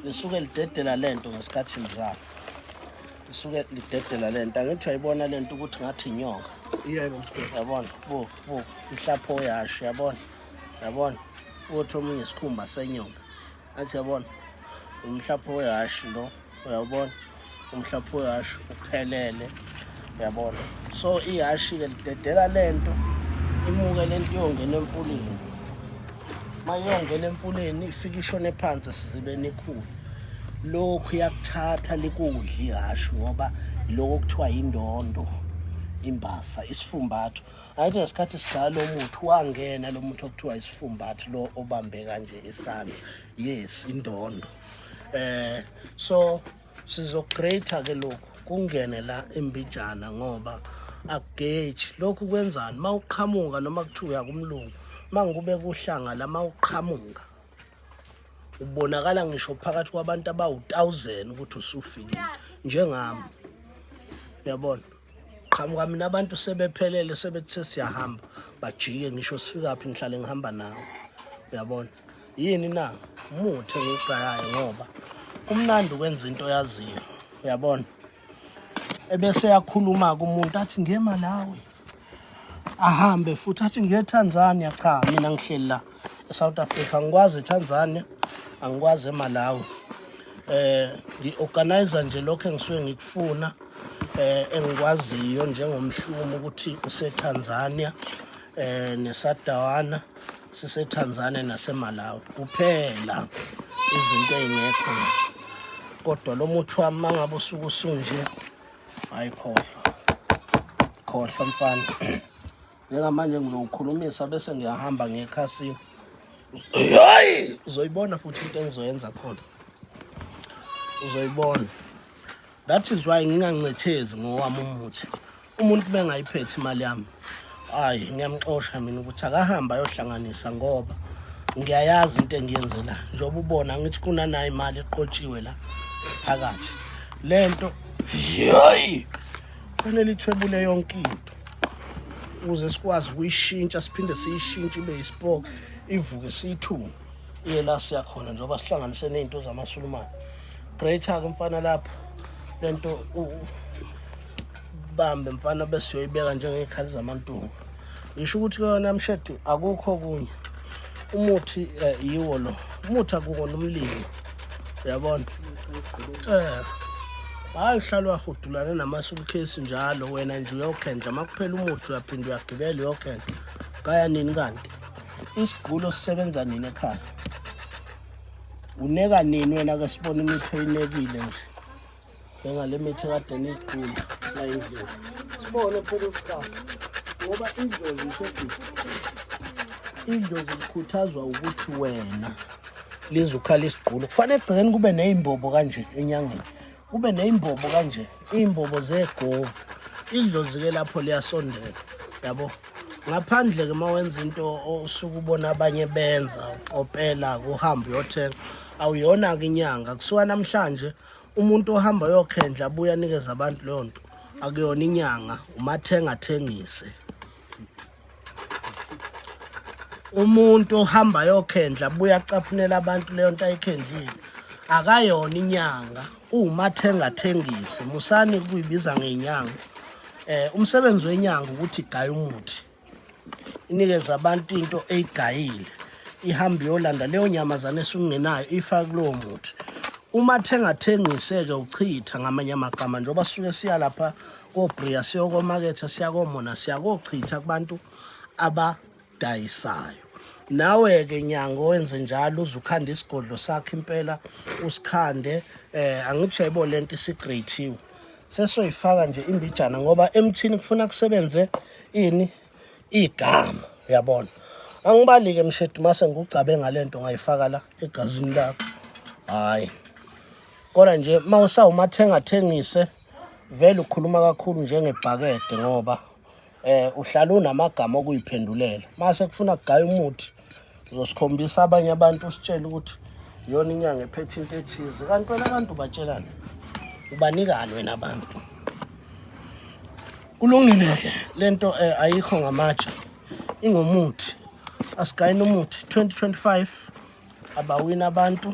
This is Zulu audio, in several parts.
lisuke lidedela lento ngesikhathi mzala lisuke lidedela lento angithi uyayibona lento ukuthi ngathi inyoka yebo yabona bo bo ihlapho yasho yabona yabona uthi omunye isikhumba senyoka athi yabona umhlapho wehashi lo uyawubona umhlapho wehashe uphelele yabona so ihashi ke lidedela lento imuke lento yongena emfuleni mayongena emfuleni ifike ishone phansi sizibeni ikhulu lokhu yakuthatha likudla ihashi ngoba lokho kuthiwa yindondo imbasa isifumbatho ayithi ngesikhathi sidala umuthi wangena lo muntu okuthiwa isifumbatho lo obambe kanje isandla yes indondo eh so sizograte ke lokhu kungene la embijana ngoba akugeji lokhu kwenzani uma uqhamuka noma kuthiwa uyakumlungu uma ngikube kuhlanga la uma uqhamuka ubonakala ngisho phakathi kwabantu abawu-1000 ukuthi usufikile njengami uyabona qhamuka mina abantu sebephelele sebethe siyahamba bajike ngisho sifikaphi ngihlale ngihamba nawo uyabona yini na umuthi engiwugayayo ngoba kumnandi ukwenza into oyaziyo uyabona ebese yakhuluma-ke umuntu athi ngema nawe ahambe futhi athi ngiye etanzania cha mina ngihleli la esouth africa angikwazi etanzania angikwazi emalawi eh ngi-organiza nje lokho engisuke ngikufuna eh engikwaziyo njengomhlumo ukuthi usetanzania eh nesadawana siseTanzania naseMalawi kuphela izinto ezingekho kodwa lo muthi wami mangabe usuke usunje ayikhohlwa khohlwa mfana njengamanje ngizowukhulumisa bese ngiyahamba ngekhasi hayi uzoyibona futhi into engizoyenza khona uzoyibona That is why ngingancethezi ngowami umuthi. Umuntu bengayiphethi imali yami. Hayi ngiyamxosha mina ukuthi akahamba ayohlanganisa ngoba ngiyayazi into engiyenzela njengoba ubona ngithi kunanayo imali eqotshiwe la phakathi lento hayi kufanele ithwebule yonke into ukuze sikwazi ukuyishintsha siphinde siyishintshe ibe yisipoke ivuke siyithunga iye la siyakhona njengoba sihlanganise nezinto zamasulumane greater ke mfana lapho lento bambe mfana bese uyoyibeka njengezikhali zamantungu ngisho ukuthi kuyona mshedi akukho kunye umuthi eh, yiwo lo umuthi akukona umlimi uyabona eh hayi uhlala wahudulane namasulukesi njalo wena nje uyokhendla uma kuphela umuthi uyaphinde uyagibela uyokhendla kaya nini kanti Isigulo sisebenza nini ekhaya? Uneka nini wena ke sibona imithi oyinekile nje? Bengale mithi kade nigcula la indlela. Sibone phela ukuqala ngoba indlozi iseduze. Indlozi ikhuthazwa ukuthi wena lizukhala isigqulo. Kufanele egcekeni kube nezimbobo kanje enyangeni. kube neyimbobo kanje iyimbobo zegovu idlozi ke lapho liyasondela yabo ngaphandle ke mawenza into osuke ubona abanye benza ukopela kuhamba uyothenga awuyona ke inyanga kusuka namhlanje umuntu ohamba yokhendla abuya nikeza abantu leyo nto akuyona inyanga umathenga athengise umuntu ohamba yokhendla buya caphunela abantu leyo nto ayikhendlile akayona inyanga uwumathenga thengise musani kuyibiza ngenyanga eh umsebenzi wenyanga ukuthi igaya umuthi inikeza abantu into eyigayile ihambe yolanda leyo nyamazane esungenayo ifa kulowo muthi uma thengathengise-ke uchitha ngamanye amagama njengoba sisuke siya lapha kobria siyokomaketha siyakomona siyakochitha kubantu abadayisayo nawe-ke nyanga owenze njalo uze ukhande isigodlo sakho impela usikhande eh angithi uyayibo le nto isigreythiwe sesoyifaka nje imbijana ngoba emthini kufuna kusebenze ini igama uyabona angibalike mshedi mase ngikugcabe ngale nto ngayifaka la egazini lakho hhayi kodwa nje uma usawumathengathengise vele ukhuluma kakhulu njengebhakede ngoba eh uhlala unamagama okuyiphendulela mase kufuna kugaya umuthi uzosikhombisa abanye abantu usitshela ukuthi iyona inyanga ephethe into ethize kanti wena abantu ubatshelani ubanikani wena abantu kulungile-ke le nto um eh, ayikho ngamatsha ingumuthi asigayini umuthi 2025 abawini abantu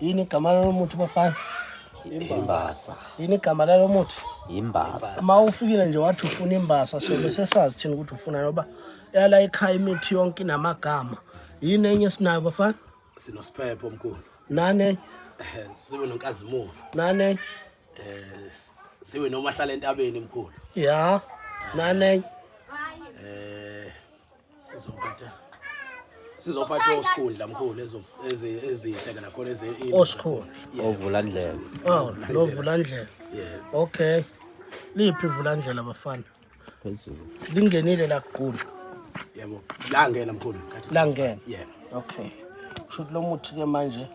yini igama lalo muthi bafana imbasa yini igama lalo muthi imbasa uma ufikile nje wathi ufuna imbasa sobe sesazi thina ukuthi ufuna noba yala ekhaya imithi yonke inamagama yini enye esinayo bafana sinosiphepho omkhulu nane sibe nonkazimulo nane eh sibe nomahlala entabeni mkhulu ya nane sizophatha sizophatha osikhundla mkhulu ezo ezihle kana khona eze osikhundla ovula ndlela oh lovula ndlela yeah okay liphi ivula ndlela bafana phezulu lingenile la kuqulu yebo la ngena mkhulu la ngena yeah okay shothi lomuthi ke manje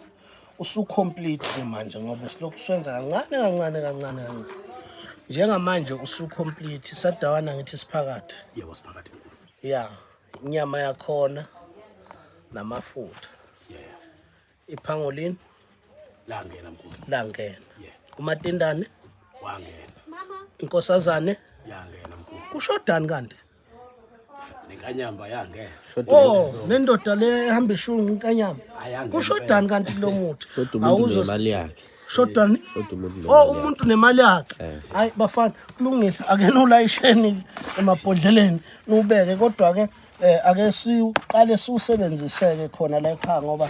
usucomplete ke manje ngoba silokhu swenza kancane kancane kancane kancane njengamanje usucomplete sadawana ngithi siphakathi yebo siphakathi ya inyama yakhona namafutha yeah iphangolini langena mkhulu langena yeah umatindane wangena mama inkosazane yangena mkhulu kushodani kanti nenkanyamba yange oh nendoda le ehamba ishungu inkanyamba kushodani kanti lo muthi awuzo imali yakhe shoda oh umuntu nemali yakhe eh. hayi bafana kulungile akena ulayisheni emabhodleleni nubeke kodwa ke eh, ake siqale siwusebenziseke khona la ekhaya ngoba